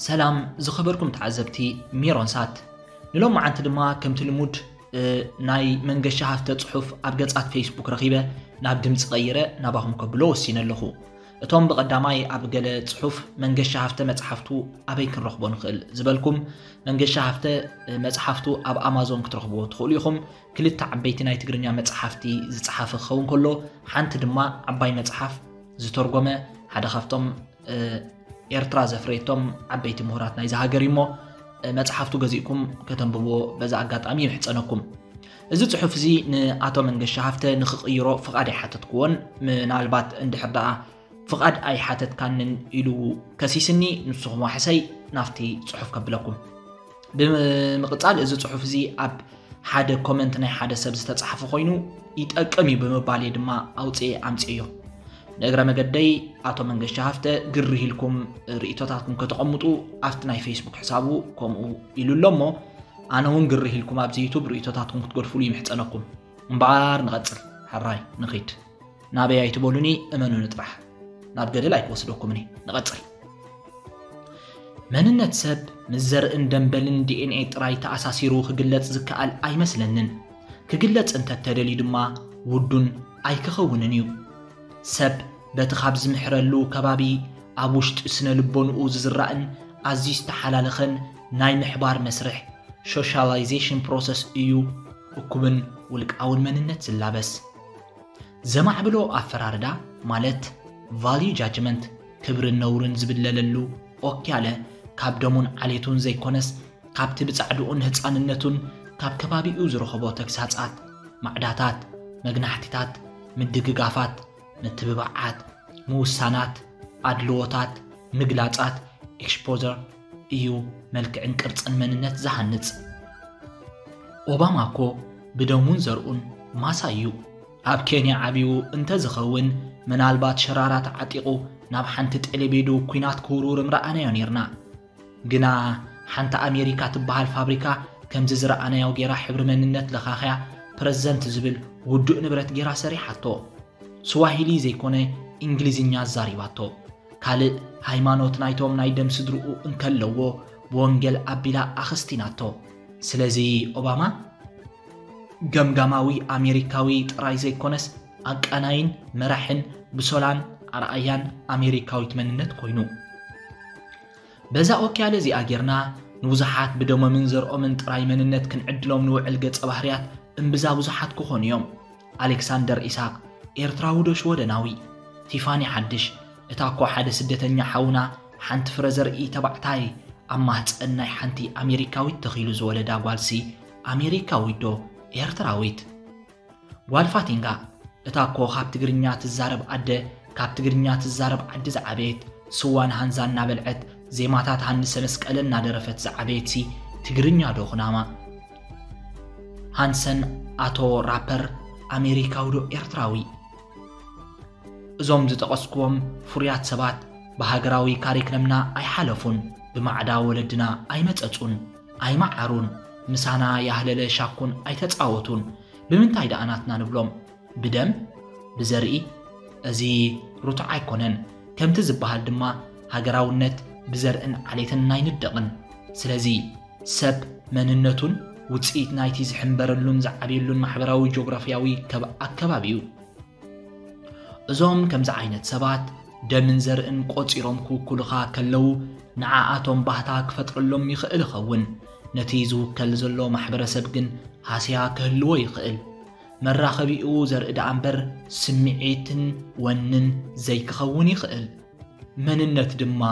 ሰላም ዝኸበርኩም ተዓዘብቲ ሜሮን ሳት ንሎም መዓንቲ ድማ ከምቲ ልሙድ ናይ መንገሻ ሃፍተ ጽሑፍ ኣብ ገጻት ፌስቡክ ረኺበ ናብ ድምፂ ቀይረ ናባኹም ከብሎ ወሲነ ኣለኹ እቶም ብቐዳማይ ኣብ ገለ ጽሑፍ መንገሻ ሃፍተ መጽሓፍቱ ኣበይ ክንረኽቦ ንኽእል ዝበልኩም መንገሻ ሃፍተ መጽሓፍቱ ኣብ ኣማዞን ክትረኽብዎ ትኽእሉ ኢኹም ክልተ ዓበይቲ ናይ ትግርኛ መጽሓፍቲ ዝጸሓፈ ክኸውን ከሎ ሓንቲ ድማ ዓባይ መጽሓፍ ዝተርጎመ ሓደ ካብቶም ኤርትራ ዘፍረየቶም ዓበይቲ ምሁራት ናይዚ ሃገር እዩሞ መፅሓፍቱ ገዚእኩም ከተንብብዎ በዛ ኣጋጣሚ ይምሕፀነኩም እዚ ፅሑፍ እዚ ንኣቶ መንገሻ ሃፍተ ንክቕይሮ ፍቓድ ኣይሓተትክዎን ምናልባት እንድሕር ደኣ ፍቓድ ኣይሓተትካንን ኢሉ ከሲስኒ ንስኹም ዋሕሰይ ናፍቲ ፅሑፍ ከብለኩም ብምቕጻል እዚ ጽሑፍ እዚ ኣብ ሓደ ኮመንት ናይ ሓደ ሰብ ዝተጻሕፈ ኮይኑ ይጠቅም እዩ ብምባል እየ ድማ ኣውፅኤ ኣምፅዮ ንእግረ መገደይ ኣቶ መንገሻ ሃፍተ ግርህ ኢልኩም ርእቶታትኩም ከተቐምጡ ኣብቲ ናይ ፌስቡክ ሕሳቡ ከምኡ ኢሉ ኣሎ እሞ ኣነ እውን ግርህ ኢልኩም ኣብዚ ዩቱብ ርእቶታትኩም ክትገድፍሉ ይምሕፀነኩም እምበኣር ንቐጽል ሕራይ ንኺድ ናበይ ኣይትበሉኒ እመኑኒ ጥራሕ ናብ ገደል ኣይክወስደኩምኒ ንቐጽል መንነት ሰብ ምስ ዘርእን ደንበልን ዲኤንኤ ጥራይ ተኣሳሲሩ ክግለጽ ዝከኣል ኣይመስለንን ክግለጽ እንተተደልዩ ድማ ውዱን ኣይክኸውንን እዩ ሰብ በቲ ካብ ዝምሕረሉ ከባቢ ኣብ ውሽጢ ስነ ልቦንኡ ዝዝራእን ኣዝዩ ዝተሓላለኸን ናይ ምሕባር መስርሕ ሶሻላይዜሽን ፕሮሰስ እዩ እኩብን ውልቃውን መንነት ዝላበስ ዘማዕብሎ ኣፈራርዳ ማለት ቫልዩ ጃጅመንት ክብርን ነውርን ዝብለለሉ ኦኪያለ ካብ ደሙን ዓሌቱን ዘይኮነስ ካብቲ ብጻዕድኡን ህጻንነቱን ካብ ከባቢኡ ዝረኸቦ ተግሳጻት፣ ማዕዳታት፣ መግናሕቲታት፣ ምድግጋፋት፣ ምትብባዓት፣ ምውሳናት፣ ኣድልዎታት፣ ምግላጻት፣ ኤክሽፖዘር፣ እዩ መልክዕን ቅርጽን መንነት ዝሃንጽ። ኦባማ እኮ ብደሙን ዘርኡን ማሳይ እዩ። ኣብ ኬንያ ዓብዩ እንተዝኸውን ምናልባት ሸራራት ዓጢቑ ናብ ሓንቲ ጤሌቤዶ ኩናት ክውርውር ምረኣናዮ ኔርና። ግና ሓንቲ ኣሜሪካ ትበሃል ፋብሪካ ከምዚ ዝረኣናዮ ጌራ ሕብሪ መንነት ለኻኽያ ፕረዝደንት ዝብል ውዱእ ንብረት ጌራ ሰሪሓቶ። ስዋሂሊ ዘይኮነ እንግሊዝኛ ኣዛሪባቶ። ካልእ ሃይማኖት ናይቶም ናይ ደም ስድርኡ እንከለዎ ብወንጌል ኣቢላ ኣኸስቲናቶ። ስለዚ ኦባማ ገምጋማዊ ኣሜሪካዊ ጥራይ ዘይኮነስ ኣቃናይን መራሕን ብሶላን ኣርኣያን ኣሜሪካዊት መንነት ኮይኑ። በዛ ኦክያለ እዚኣ ጌርና ንብዙሓት ብደሞምን ዘርኦምን ጥራይ መንነት ክንዕድሎም ንውዕል ገጸ ባህርያት እምብዛ ብዙሓት ክኾኑ እዮም። ኣሌክሳንደር ኢሳቕ፣ ኤርትራዊ ዶ ሽወደናዊ? ቲፋኒ ሓድሽ፣ እታ እኮ ሓደ ስደተኛ ሓውና ሓንቲ ፍረ ዘርኢ ተባዕታይ ኣብ ማህጸን ናይ ሓንቲ ኣሜሪካዊት ተኺሉ ዝወለዳ ጓልሲ ኣሜሪካዊት ዶ ኤርትራዊት? ጓል ፋቲንጋ፣ እታ እኮ ካብ ትግርኛ ትዛረብ ኣደ ካብ ትግርኛ ትዛረብ ዓዲ ዝዓበየት ስዋን ሃንዛ እናበልዐት ዜማታት ሃንሰ መስቀለ እናደረፈት ዝዓበየትሲ ትግርኛ ዶ ኩናማ? ሃንሰን ኣቶ ራፐር ኣሜሪካዊ ዶ ኤርትራዊ? እዞም ዝጠቐስክዎም ፍሩያት ሰባት ብሃገራዊ ካሪክለምና ኣይሓለፉን፣ ብማዕዳ ወለድና ኣይመጸጹን፣ ኣይመዓሩን፣ ምሳና ያህለለ ሻኩን ኣይተጻወቱን፣ ብምንታይ ደኣ ናትና ንብሎም? ብደም? ብዘርኢ? እዚ ርቱዕ ኣይኮነን፣ ከምቲ ዝበሃል ድማ ሃገራውነት ብዘርእን ዓሌትን ኣይንደቕን። ስለዚ። ሰብ መንነቱን ውጽኢት ናይቲ ዝሕንበረሉን ዝዓብየሉን ማሕበራዊ ጆግራፍያዊ ከብ ኣከባቢ'ዩ። እዞም ከምዚ ዓይነት ሰባት ደምን ዘርእን ቆጺሮም ክውኩሉኻ ከለዉ ንዓኣቶም ባህታ ክፈጥረሎም ይኽእል ይኸውን፣ ነቲ ዝውከል ዘሎ ማሕበረሰብ ግን ሃስያ ክህልዎ ይኽእል። መራኸቢኡ ዘርኢ ደኣምበር ስምዒትን ወንን ዘይክኸውን ይኽእል። መንነት ድማ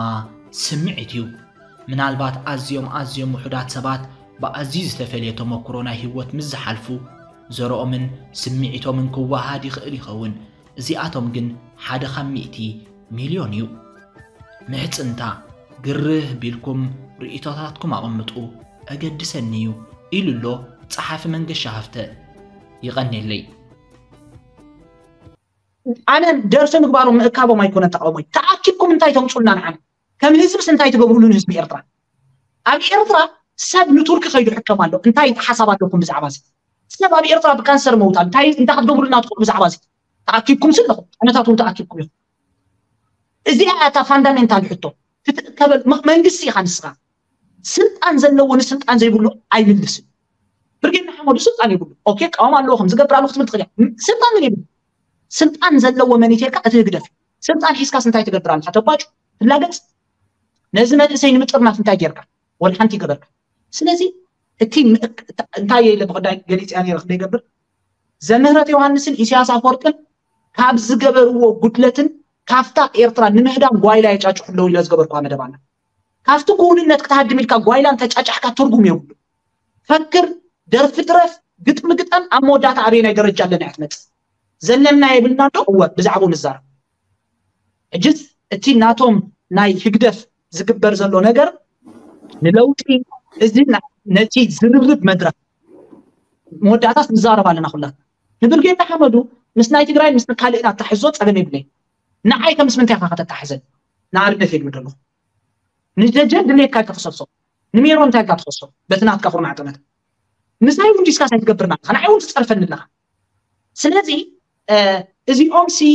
ስምዒት እዩ። ምናልባት ኣዝዮም ኣዝዮም ውሑዳት ሰባት ብኣዝዩ ዝተፈልየ ተመኩሮ ናይ ህይወት ምስ ዝሓልፉ ዘርኦምን ስምዒቶምን ክወሃሃድ ይኽእል ይኸውን፣ እዚኣቶም ግን ሓደ ካብ ሚእቲ ሚልዮን እዩ። ምሕጽንታ፣ ግርህ ቢልኩም ርእይቶታትኩም ኣቐምጡ፣ ኣገድሰኒ እዩ ኢሉ ኣሎ ጸሓፊ መንገሻ ሃፍተ። ይቐኔለይ። ኣነ ደርፊ ምግባሮም ምእካቦም ኣይኮነን ተቃውሞይ ተኣኪብኩም እንታይ ተምጹልና ንዓና ከም ህዝብስ እንታይ ትገብሩሉ ንህዝቢ ኤርትራ ኣብ ኤርትራ ሰብ ንቱርኪ ከይዱ ሕከም ኣሎ እንታይ ሓሳብ ኣለኩም ብዛዕባ እዚ ሰብ ኣብ ኤርትራ ብካንሰር መውታ እንታይ እንታይ ክትገብሩልና ትኽእሉ ብዛዕባ እዚ ተኣኪብኩም ስለኹም ኣነታት እውን ተኣኪብኩም ኢኹም እዚኣ እያ እታ ፋንዳሜንታል ሕቶ ክትእከበል መንግስቲ ኢኻ ንስኻ ስልጣን ዘለዎ ንስልጣን ዘይብሉ ኣይምልስን ብርጌድ ንሓመዱ ስልጣን ይብሉ ኦኬ ቃውም ኣለዎ ከም ዝገብር ኣለዎ ክትብል ትኽእል እያ ስልጣን ግን ይብሉ ስልጣን ዘለዎ መን እዩ ተልካ እቲ ህግደፍ እዩ ስልጣን ሒዝካስ እንታይ ትገብር ኣለካ ተባጩ ትላገጽ ነዚ መንእሰይ ንምጥርናፍ እንታይ ጌርካ ወላ ሓንቲ ይገበርካ ስለዚ እቲ እንታይ እየ ኢለ ብክዳይ ገሊፅያ ነይረ ክንደ ይገብር ዘምህረት ዮሃንስን ኢሳያስ ኣፈወርቅን ካብ ዝገበርዎ ጉድለትን ካፍታ ኤርትራ ንምህዳም ጓይላ የጫጭሑ ኣለዉ ኢለ ዝገበርኳ መደብ ኣላ ካብቲ ክውንነት ክትሃድም ኢልካ ጓይላ እንተጫጫሕካ ትርጉም የብሉን። ፈክር፣ ደርፊ ትረፍ፣ ግጥሚ ግጠም ኣብ መወዳእታ ኣበየናይ ደረጃ ኣለና እያ ትመጽእ። ዘለና የብልናን ዶ? እወ ብዛዕብኡ ንዛረብ። ሕጅስ እቲ ናቶም ናይ ህግደፍ ዝግበር ዘሎ ነገር ንለውጢ እዚ ነቲ ዝርርብ መድረኽ መወዳእታስ ንዛረብ ኣለና ኩላትና። ንብርጌድ ንሓመዱ ምስ ናይ ትግራይን ምስ ካልእን ኣታሕዞ ጸገም የብለይን። ንዓይ ከ ምስ ምንታይ ኢካ ከተታሕዘኒ ንኣብነት እየ ክብል ደለኩ ንደጀን ድሌትካ ኢካ ትክሰሶ ንሜሮን እንታይ ኢልካ ትከሶ በቲ ናትካ ኩርናዕ ጠመተ ምሳይ ውን ዲስካስ ኣይትገብርን ኣለካ ንዓይ ውን ትጸርፈኒ ኣለካ ስለዚ እዚኦም ሲ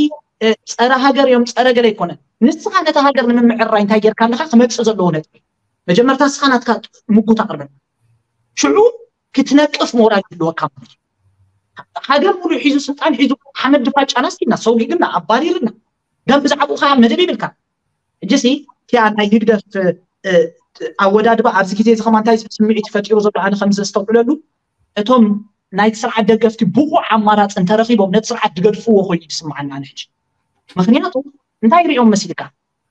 ጸረ ሃገር እዮም ጸረ ገለ ኣይኮነን ንስካ ነታ ሃገር ንምምዕርራይ እንታይ ጌርካ ኣለካ ክመጽእ ዘለዎ ነጥቢ መጀመርታ ንስካ ናትካ ምጉት ኣቅርበልና ሽዑ ክትነቅፍ ሞራል ክህልወካ ማለት እዩ ሃገር ሙሉእ ሒዙ ስልጣን ሒዙ ሓመድ ድፋ ጫናስኪና ሰውጊግና ኣባሪርና ደም ብዛዕባኡ ከዓ መደብ ይብልካ እጅሲ እቲኣ ናይ ህግደፍ ኣወዳድባ ኣብዚ ግዜ እዚ ከማ እንታይ ስምዒት ፈጢሩ ዘሎ ኣነ ከም ዘስተውዕለሉ እቶም ናይቲ ስርዓት ደገፍቲ ብቑዕ ኣማራፂ እንተረኺቦም ነቲ ስርዓት ድገድፍዎ ኮይኑ ይስምዓና ንሕጂ ምክንያቱ እንታይ ሪኦም መሲልካ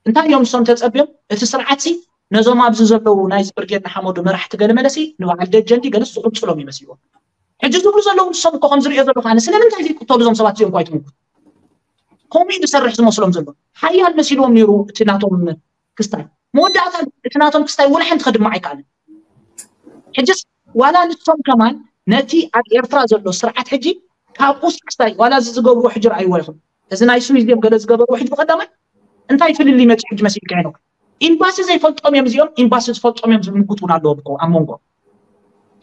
እንታይ እዮም ንሶም ተጸብዮም እቲ ስርዓትሲ ነዞም ኣብዚ ዘለዉ ናይዚ ብርጌድ ንሓመዱ መራሕቲ ገለመለሲ ንበዓል ደጀን ድዩ ገለስ ዝቅጽሎም እዩ መሲልዎም ሕጂ ዝብሉ ዘለዉ ንሶም እኮ ከምዚ ሪኦ ዘለኩ ኣነ ስለምንታይ ዘይቅተሉ እዞም ሰባት እዚኦም እኮ ኣይትምጉት ከምኡ እዩ ዝሰርሕ ዝመስሎም ዘሎ ሓያል መሲልዎም ነይሩ እቲ ናቶም ክስታይ መወዳእታ እቲ ናቶም ክስታይ ወላ ሓንቲ ከድምዕ ኣይከኣልን ሕጅስ ዋላ ንሶም ከማን ነቲ ኣብ ኤርትራ ዘሎ ስርዓት ሕጂ ካብኡስ ክስታይ ዋላ እዚ ዝገብርዎ ሕጂ ረኣይዎ ይኹን እዚ ናይ ስዊዝ ድዮም ገለ ዝገበርዎ ሕጂ ብቀዳማይ እንታይ ፍልልይ መጺኡ ሕጂ መሲልካ ሄኖክ ኢምባሲ ዘይፈልጦም እዮም እዚኦም ኢምባሲ ዝፈልጦም እዮም ዝብል ምጉት ውን ኣለዎም እኮ ኣብ መንጎ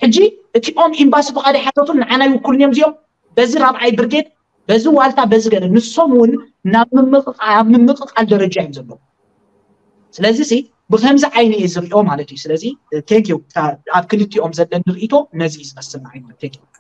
ሕጂ እቲኦም ኢምባሲ ፍቃድ ኣይሓተቱን ንዓና ይውክሉን እዮም እዚኦም በዚ ራብዓይ ብርጌድ በዚ ዋልታ በዚ ገለ ንሶም ውን ናብ ምምቕቓል ምምቕቓል ደረጃ እዮም ዘለዉ ስለዚ ሲ ብከምዚ ዓይኒ እየ ዝሪኦ ማለት እዩ ስለዚ ቴንክ ዩ ኣብ ክልቲኦም ዘለኒ ርእይቶ ነዚ እዩ ዝመስል ንዓይ ማለት ቴንክ ዩ